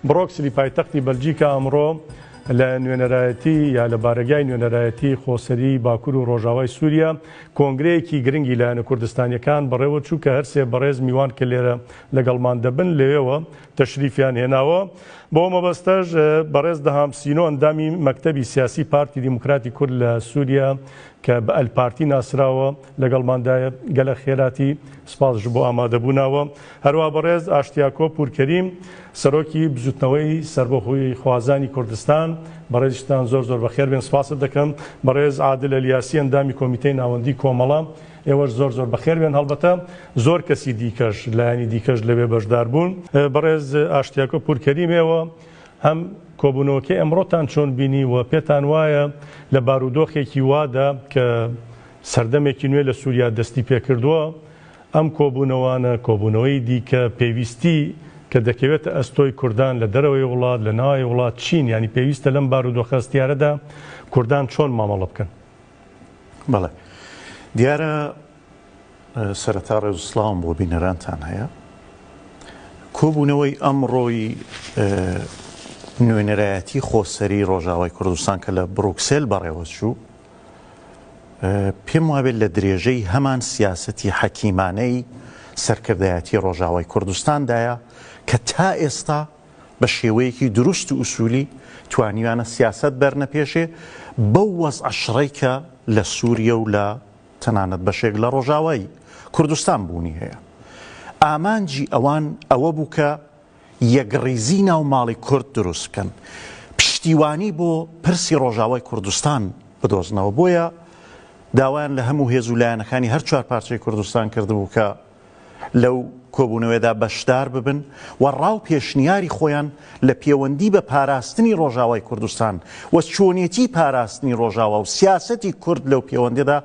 برۆکسلی پایتەختی بەلجیکا ئەمڕۆ لە نوێنەرایەتی یا لە بارەگای نوێنەرایەتی خۆسەری باکور و ڕۆژاوای سووریا کۆنگرەیەکی گرنگی لایەنە کوردستانیەکان بەڕێوە چوو کە هەرسێ بەڕێز میوان کە لێرە لەگەڵمان دەبن لەوێوە تەشریفیان هێناوە بۆ مەبەستەش بەڕێز دەهام سینۆ ئەندامی مەکتەبی سیاسی پارتی دیموکراتی کورد لە سووریا کە بە ئەلپارتی ناسراوە لەگەڵماندایە گەلە خێراتی سپاس ژبۆ ئامادەبووناوە هەروا بەڕێز ئاشتیاکۆ پورکەریم سەرۆکی بزوتنەوەی سەربەخۆی خوازانی کوردستان بەڕێزیشتان زۆر زۆر بەخێر بێن سپاست دەکەم بەڕێز عادل ئەلیاسی ئەندامی کۆمیتەی ناوەندی کۆمەڵە ئێوەش زۆر زۆر بەخێر بێن هەڵبەتە زۆر کەسی دیکەش لایانی دیکەش لەوێ بەشدار بوون بەڕێز ئاشتیاکۆ پورکەریمێەوە هەم کۆبوونەوەکە ئەمڕۆتان چۆن بینی و پێتان وایە لە بارودۆخێکی وادا کە سەردەمێکی نوێ لە سووریا دەستیپێکردووە، ئەم کۆبوونەوانە، کۆبوونەوەی دیکە پێویستی کە دەکەوێتە ئەستۆی کوردان لە دەرەوەی وڵات، لە ناوەوەی وڵات چین؟ یانی پێویستە لەم بارودۆخە هەستیارەدا کوردان چۆن مامەڵە بکەن؟ بەڵێ. دیارە سەرەتا ڕێز و سڵاوم بۆ بینەرانتان هەیە. کۆبوونەوەی ئەمڕۆی نوێنەرایەتی خۆسەری ڕۆژاوای کوردستان کە لە بڕوکسێل بەڕێوەچوو، پێم وابێت لە درێژەی هەمان سیاسەتی حەکیمانەی سەرکردایەتی ڕۆژاوای کوردستاندایە کە تا ئێستا بە شێوەیەکی دروست و ئوسولی توانیویانە سیاسەت بەرنەپێشێ بەو وەزعە شڕەی کە لە سووریە و لە تەنانەت بەشێک لە ڕۆژاوای کوردستان بوونی هەیە ئامانجی ئەوان ئەوە بوو کە یەکڕیزی ناو ماڵی کورد دروست بکەن پشتیوانی بۆ پرسی ڕۆژاوای کوردستان بدۆزنەوە بۆیە داوایان لە هەموو هێز و لایەنەکانی هەر چوار پارچەی کوردستان کردبوو کە لەو کۆبوونەوەدا بەشدار ببن و ڕاو پێشنیاری خۆیان لە پێوەندی بە پاراستنی ڕۆژاوای کوردستان و چۆنێتی پاراستنی ڕۆژاوا و سیاسەتی کورد لەو پێوەندێدا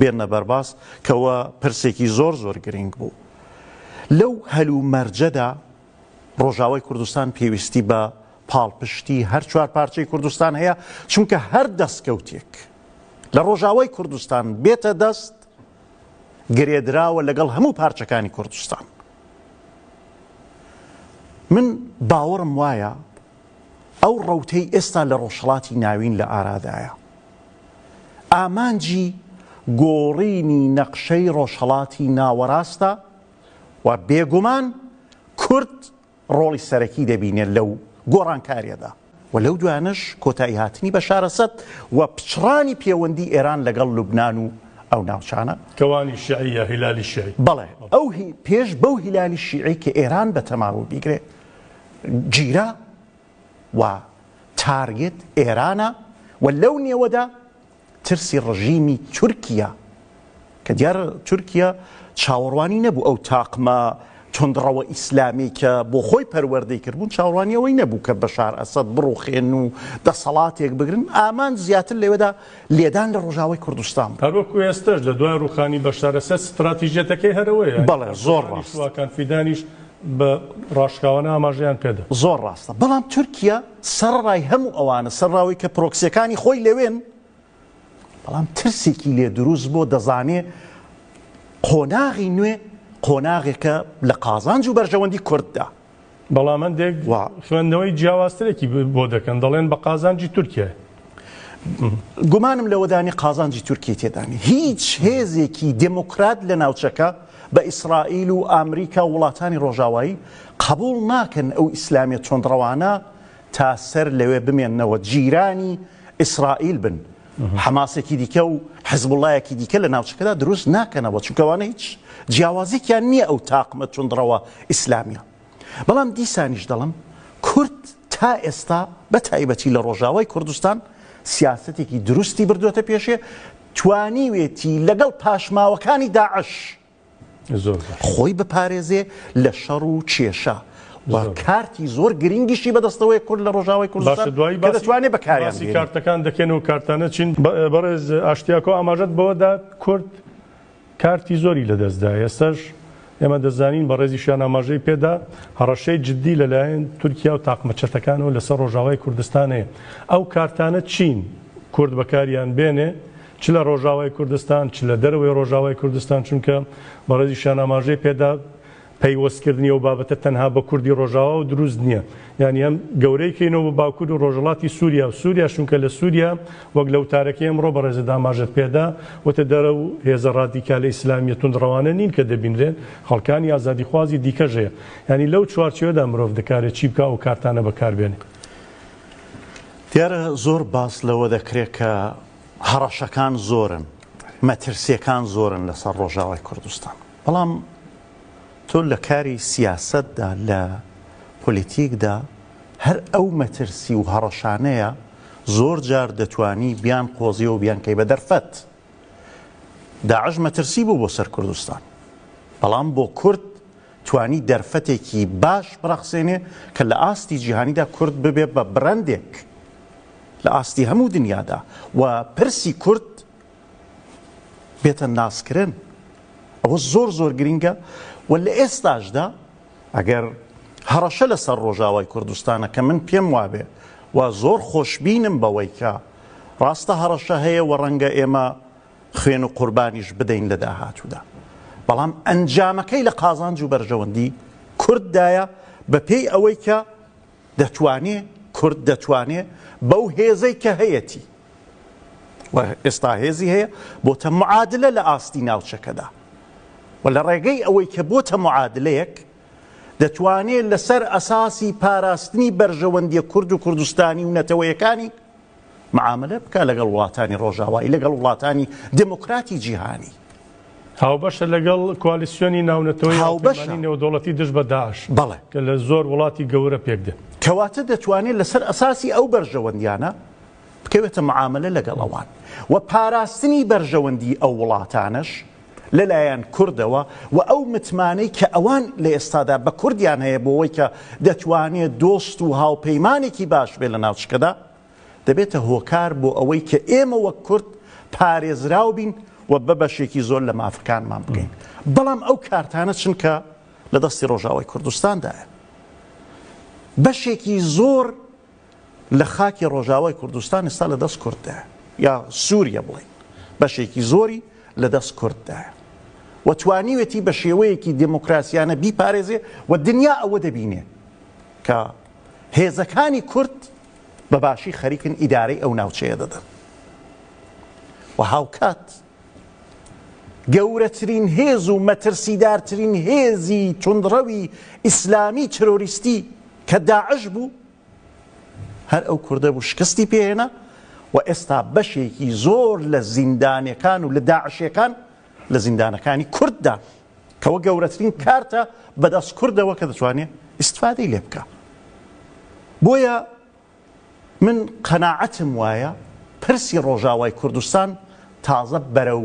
بێنە بەرباس کەوە پرسێکی زۆر زۆر گرینگ بوو لەو هەل و مەرجەدا ڕۆژاوای کوردستان پێویستی بە پاڵپشتی هەر چوار پارچەی کوردستان هەیە چونکە هەر دەستکەوتێک لە ڕۆژاوای کوردستان بێتە دەست گرێدراوە لەگەڵ هەموو پارچەکانی کوردستان من باوەڕم وایە ئەو ڕەوتەی ئێستا لە ڕۆژهەڵاتی ناوین لە ئارادایە، ئامانجی گۆڕینی نەقشەی ڕۆژهەڵاتی ناوەڕاستە و بێگومان کورد ڕۆڵی سەرەکی دەبینێت لەو گۆڕانکاریەدا و لەو دوایانەش کۆتاییهاتنی بەشار ئەسەد و پچڕانی پێوەندی ئێران لەگەڵ لوبنان و ئەو ناوچانە. کەوانی شیعی یا هیلالی شیعی؟ بەڵێ، ئەو پێش بەو هیلالی شیعی کە ئێران بە تەماوە بیگرێت، گیرا و تارگێت ئێرانە و لەو نێوەدا ترسی ڕژیمی تورکییە کە دیارە تورکییە چاوەڕوانی نەبوو ئەو تاقمە توندڕەوە ئیسلامی کە بۆ خۆی پەروەردەی کردبوون چاوەڕوانی ئەوەی نەبوو کە بەشار ئەسەد بڕوخێن و دەسەڵاتێک بگرن ئامان زیاتر لەوێدا لێدان لە ڕۆژاوای کوردستان بوو. هەروەکو ئێستەش لە دوای ڕووخانی بەشار ئەسەد ستڕاتیژیەتەکەی هەر ئەوەیە. بەڵێ زۆر ڕاست. سوواکان فیدانیش بە ڕاشکاوانە ئاماژەیان پێدا. زۆر ڕاستە، بەڵام تورکیا سەڕەڕای هەموو ئەوانە، سەرڕای ئەوەی کە پرۆکسییەکانی خۆی لەوێن، بەڵام ترسێکی لێ دروست بووە، دەزانێ قۆناغی نوێ قۆناغێکە لە قازانج و بەرژەوەندی کورددا. بەڵام هەندێک خوێندنەوەی جیاوازترێکی بۆ دەکەن، دەڵێن بە قازانجی تورکیایە. گومانم لەوەدانی قازانجی تورکیە تێدانێ هیچ هێزێکی دێموکرات لە ناوچەکە بە ئیسرائیل و ئامریکا وڵاتانی ڕۆژاوایی قبول ناکەن ئەو ئیسلامیە تۆندڕەوانە تا سەر لەوێ بمێنەوە جیرانی ئیسرائیل بن حەماسێکی دیکە و حزبڵایەکی دیکە لە ناوچەکەدا دروست ناکەنەوە چونکەوانە هیچ جیاوازیکیان نییە ئەو تاقمە تونندڕەوە ئیسلامیە بەڵام دیسانیش دەڵێم کورد تا ئێستا بە تایبەتی لە ڕۆژاوای کوردستان سیاسەتێکی دروستی بردووەتە پێشێ، توانیوێتی لەگەڵ پاشماوەکانی داعش خۆی بپارێزێ لە شەڕ و کێشە و کارتی زۆر گرنگیشی بەدەستەوەیە کورد لە ڕۆژاوای کوردستان کە دەتوانێ بەکاریان بێنێ. باسی کارتەکان دەکەین و کارتانە چین؟ بەڕێز ئاشتیاکۆ ئاماژەت بەوە دا کورد کارتی زۆری لەدەستدا، ئێستەش ئێمە دەزانین، بەڕێزیشیان ئاماژەی پێدا، هەڕەشەی جددی لەلایەن تورکیا و تاقمە چەتەکانەوە لەسەر ڕۆژاوای کوردستان هەیە. ئەو کارتانە چین کورد بەکاریان بێنێ، چ لە ڕۆژاوای کوردستان، چ لە دەرەوەی ڕۆژاوای کوردستان، چونکە بەڕێزیشیان ئاماژەی پێدا، پەیوەستکردنی ئەو بابەتە تەنها بە کوردی ڕۆژاواوە دروست نییە، یانی ئەم گەورەی کەینەوە بە باکور و ڕۆژهەڵاتی سوریا و سوریا، چونکە لە سوریا وەک لە وتارەکەی ئەمڕۆ بەڕێزت ئاماژەت پێدا، وتت ئەو هێزە ڕادیکالە ئیسلامییە توندڕەوانە نین کە دەبینرێن، خەڵکانی ئازادیخوازی دیکەش هەیە. یانی لەو چوارچێوەدا مرۆڤ دەکارێت چی بکات ئەو کارتانە بەکاربێنێت. دیارە زۆر باس لەوە دەکرێت کە هەڕەشەکان زۆرن، مەترسییەکان زۆرن لەسەر ڕۆژاوای کوردستان. بەڵام تۆ لە کاری سیاسەتدا، لە پۆلیتیکدا هەر ئەو مەترسی و هەڕەشانەیە زۆر جار دەتوانی بیان قۆزی و بیان کەی بە دەرفەت. داعش مەترسی بوو بۆ سەر کوردستان، بەڵام بۆ کورد توانی دەرفەتێکی باش بڕەخسێنێ کە لە ئاستی جیهانیدا کورد ببێ بە برەندێک لە ئاستی هەموو دنیادا و پرسی کورد بێتە ناسکرن ئەوە زۆر زۆر گرنگە و لە ئێستاشدا ئەگەر هەڕەشە لەسەر ڕۆژاوای کوردستانە کە من پێم وابێ و زۆر خۆشببینم بەوەی کە ڕاستە هەڕەشە هەیە و ڕەنگە ئێمە خوێن و قوربانیش بدەین لە داهاتوودا بەڵام ئەنجامەکەی لە قازانج و بەرژەوەندی کورددایە بەپێی ئەوەی کە دەتوانێ کورد دەتوانێ بەو هێزەی کە هەیەتی و ئێستا هێزی هەیە بۆتە معادلە لە ئاستی ناوچەکەدا و لە ڕێگەی ئەوەی کە بۆتە معادلەیەک دەتوانێت لەسەر ئەساسی پاراستنی بەرژەوەندیە کورد و کوردستانی و نەتەوەیەکانی معامەلە بکا لەگەڵ وڵاتانی ڕۆژاوایی لەگەڵ وڵاتانی دێمۆکراتی جیهانی. هاوبەشە لەگەڵ کوالیسیۆنی ناونەتەوەی هاوبەشە نێودەوڵەتی دژ بە داعش بەڵێ کە لە زۆر وڵاتی گەورە پێک دێت. کەواتە دەتوانێت لەسەر ئەساسی ئەو بەرژەوەندیانە بکەوێتە معامەلە لەگەڵ ئەوان و پاراستنی بەرژەوەندی ئەو وڵاتانەش لەلایەن کوردەوە و ئەو متمانەی کە ئەوان لە ئێستادا بە کوردیان هەیە بۆوەی کە دەتوانێت دۆست و هاوپەیمانێکی باش بێت لە ناوچکەدا، دەبێتە هۆکار بۆ ئەوەی کە ئێمە وەک کورد پارێزراو بین و بە بەشێکی زۆر لە مافەکانمان بگەین. بەڵام ئەو کارتانە چنکە لە دەستی ڕۆژاوای کوردستاندایە بەشێکی زۆر، لە خاکی ڕۆژاوای کوردستان ئێستا لە دەست کورددایە یا سووریە بڵێین بەشێکی زۆری لە دەست کورددایە و توانیوێتی بە شێوەیەکی دێموکراسیانە بیپارێزێ و دنیا ئەوە دەبینێ کە هێزەکانی کورد بە باشی خەریکن ئیدارەی ئەو ناوچەیە دەدەن و هاوکات گەورەترین هێز و مەترسیدارترین هێزی توندڕەوی ئیسلامی ترۆریستی کە داعش بوو هەر ئەو کوردە بوو شکستی پێهێنا و ئێستا بەشێکی زۆر لە زیندانەکان و لە داعشەکان لە زیندانەکانی کورددا کەەوە گەورەترین کارتە بەدەست کوردەوە کە دەتوانێت ئیسفادەی لێ بکە بۆیە من قەناعەتم وایە پرسی ڕۆژاوای کوردستان تازە بەرەو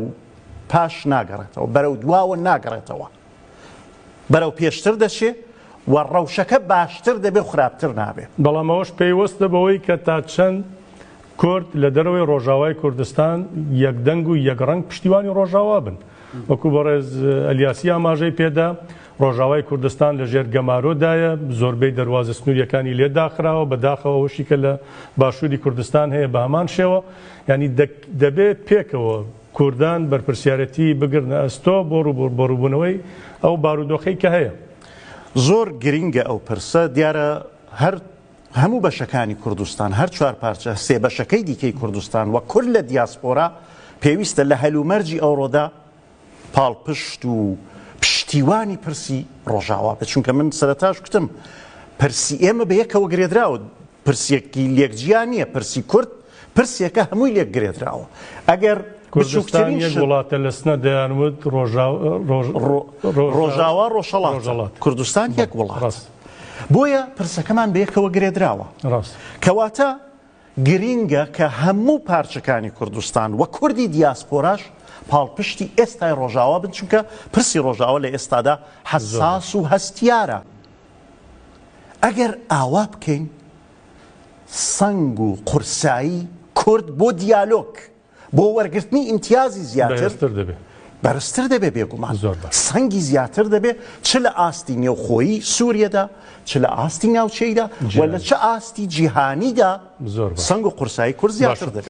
پاش ناگەڕێتەوە، بەرەو دواوە ناگەڕێتەوە، بەرەو پێشتر دەچێ و ڕەوشەکە باشتر دەبێ و خراپتر نابێ. بەڵام ئەوەش پەیوەستە بەوەی کە تا چەند کورد لە دەرەوەی ڕۆژاوای کوردستان یەک دەنگ و یەک ڕەنگ پشتیوانی ڕۆژاوا بن. وەکوو بەڕێز ئەلیاسی ئاماژەی پێدا، ڕۆژاوای کوردستان لە ژێر گەمارۆ دایە، زۆربەی دەروازە سنوورییەکانی لێ داخراوە، بە داخەوە ئەوەشی کە لە باشووری کوردستان هەیە بە هەمان شێوە. یانی دەبێت پێکەوە کوردان بەرپرسیارەتیی بگرنە ئەستۆ بۆ ڕووبەڕووبوونەوەی ئەو بارودۆخەی کە هەیە. زۆر گرینگە ئەو پرسە، دیارە هەر هەموو بەشەکانی کوردستان، هەر چوار پارچە سێ بەشەکەی دیکەی کوردستان و کورد لە دیاسپۆرا پێویستە لە هەلومەرجی ئەوڕۆدا پاڵپشت و پشتیوانی پرسی ڕۆژاوا بێت، چونکە من سەرەتاش گوتم پرسی ئێمە بە یەکەوە گرێدراوە، پرسێکی لێک جیا نییە، پرسی کورد پرسێکە هەمووی لێک گرێدراوە، ئەگەر کوردستان یەک وڵاتە لە سنە دەیان وت ڕۆژاوا ڕۆژهەڵات کوردستان یەک وڵات، بۆیە پرسەکەمان بە یەکەوە گرێدراوە، کەواتە. گرینگە کە هەموو پارچەکانی کوردستان و کوردی دیاسپۆراش پاڵپشتی ئێستای ڕۆژاوا بن، چونکە پرسی ڕۆژاوا لە ئێستادا حەساس و هەستیارە. ئەگەر ئاوا بکەین سەنگ و قورسایی کورد بۆ دیالۆگ بۆ وەرگرتنی ئیمتیازی زیاتر بەرزتر دەبێت بێگومان سەنگی زیاتر دەبێت چ لە ئاستی نێوخۆیی سووریەدا چ لە ئاستی ناوچەیدا و لە چ ئاستی جیهانیدا سنگ و قورسایی کورد زیاتر دەبێت.